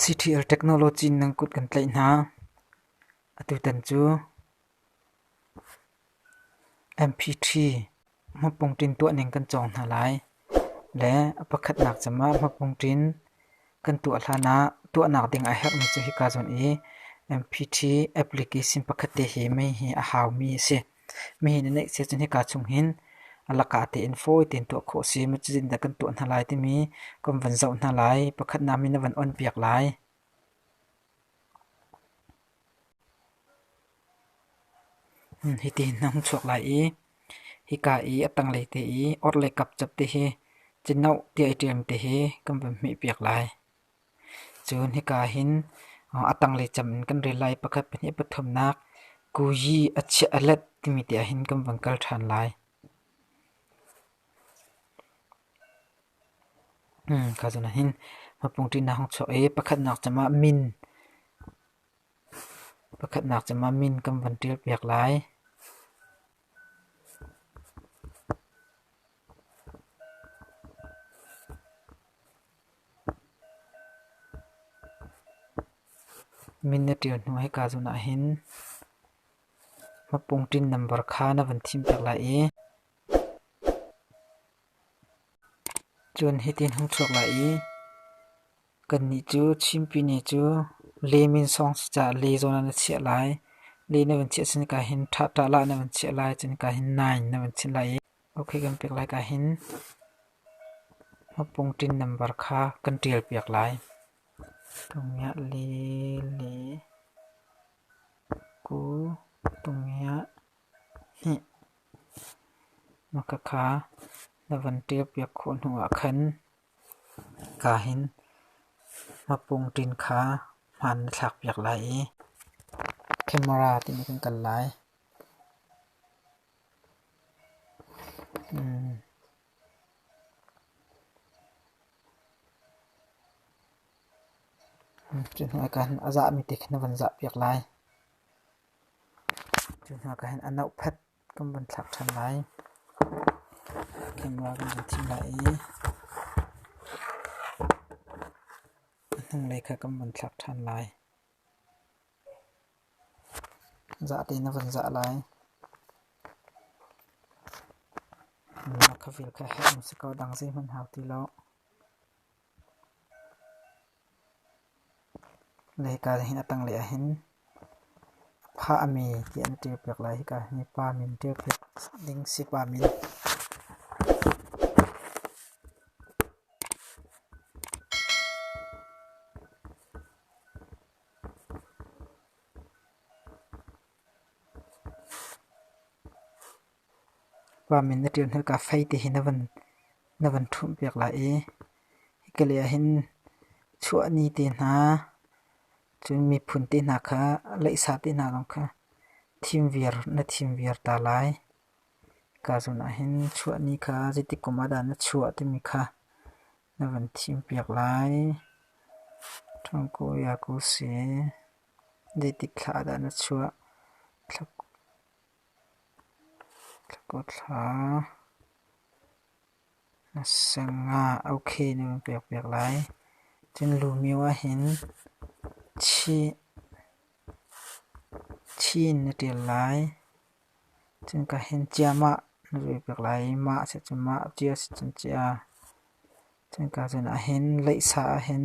CTR technology nang kut kan tlaih hna. Atu tan cu. MP3 hmapung ṭin tuahning kan cawng hna lai le a pakhatnak cem ah hmapung ṭin kan tuah hlan ah tuahnak ding a herhmi cu hika zawn i MP3 application pakhat te hi mei hi a haumi a si. Mei na neih siah cun hika chung hin a laka tein fawi tein tuah khawh a si. Maw cu zeitindah kan tuah hna lai timi kan van zoh hna lai. Pakhatnak min a van on piak lai. Hiti na hung chuak lai i hika i a tanglei te i orhlei kapcap te hi cinoh tiah i ṭial te hi kan van hmihpiak lai. Cun hika hin a tanglei cam in kan rel lai. Pakhat, pahnih, pathumnak kuyi a chiah a let timi tiah hin kan van kal ṭhan lai. Kha chan ah hin mapung ṭihnak hong chuak i pakhatnak cam ah min kan van ṭial piak lai. Min na ṭial hnu hei ka zun ahhin mapung ṭin nambar kha na van thim piak lai i. Cun hitin hung chuak lai i, kannih cu chimpini cu leem in sawng si caah le zawn ah na chiah lai. Le na vun chiah si nika hin ṭhahṭah hlah na vun chiah lai, cun nika hin nine na vun chinh lai i ok kan pek lai ka hin mapungṭin nambar kha kan ṭialpiak lai. Tungiah le le ku tungiah Na ka kha na van ṭialpiak khawh hnuah khan ka hin mapungṭin kha hmaan na thlakpiak lai i camera timi kan kal lai. Cu hnuah ka hin a zahmi te kha na van zahpiak lai. Cu hna ka hin a nauhphet kan vun thlak ṭhan lai. Khenrua kan vun thim lai i a hnanglei kha kan vun thlak ṭhan lai. Zah te na vun zah lai. Na khavil kha heh um si ko dang zeihmanh hau ti lo. Leika hi a tanglei ahhin phah a mi ti an ṭial piak lai. Hika hi pa min ṭial piak ding si pa min. Pa min na ṭial hna ka fei ti hi na van ṭhumh piak lai i hika lei ah hin chuahni te hna, cun miphun te hna kha, leihsa te hna zong kha thim viar na thim viar ta lai. Ka zun ah hin chuahni kha zeitik kum ah dah na chuah timi kha na van thim piak lai. Ṭhungku Yaku si, zeitik thla ah dah na chuah? Thla Hlakawthla na seng ah okay na kan pekpiak lai. Cun lumio ahhin thi in na ṭial lai. Cun ka hin cia mah na pekpiak lai i mah a si cun mah, cia a si cun cia. Cun ka cun ahhin leihsa ahhin.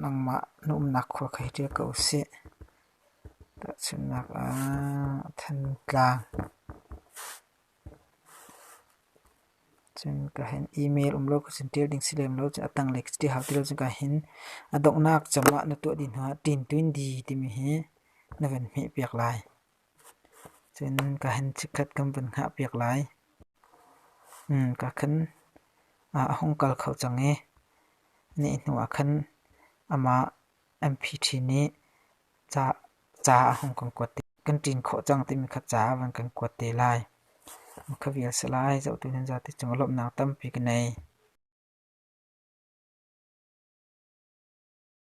Nangmah na umnak khua kha hi ṭial ko sih. Tahchunhnak ah, Thantlang. Cun ka hin email um lo ka cun ṭial ding si lem lo. Cun a tanglei ka ṭial hau ti lo. Cun ka hin a donghnak cungah na tuah dih hnuah ṭin tu in di timi hi na van hmehpiak lai. Cun ka hen chikkhat kan vun hngah piak lai. Ka khan a hung kal kho cang i nih hnuah khan amah MP ṭhi nih ca a hung kan kuat te. Kan ṭin khawh cang timi kha ca a van kan kuat te lai. Ka vial si lai, zohtu nan zate cungah lawmhnak tampi ka nei.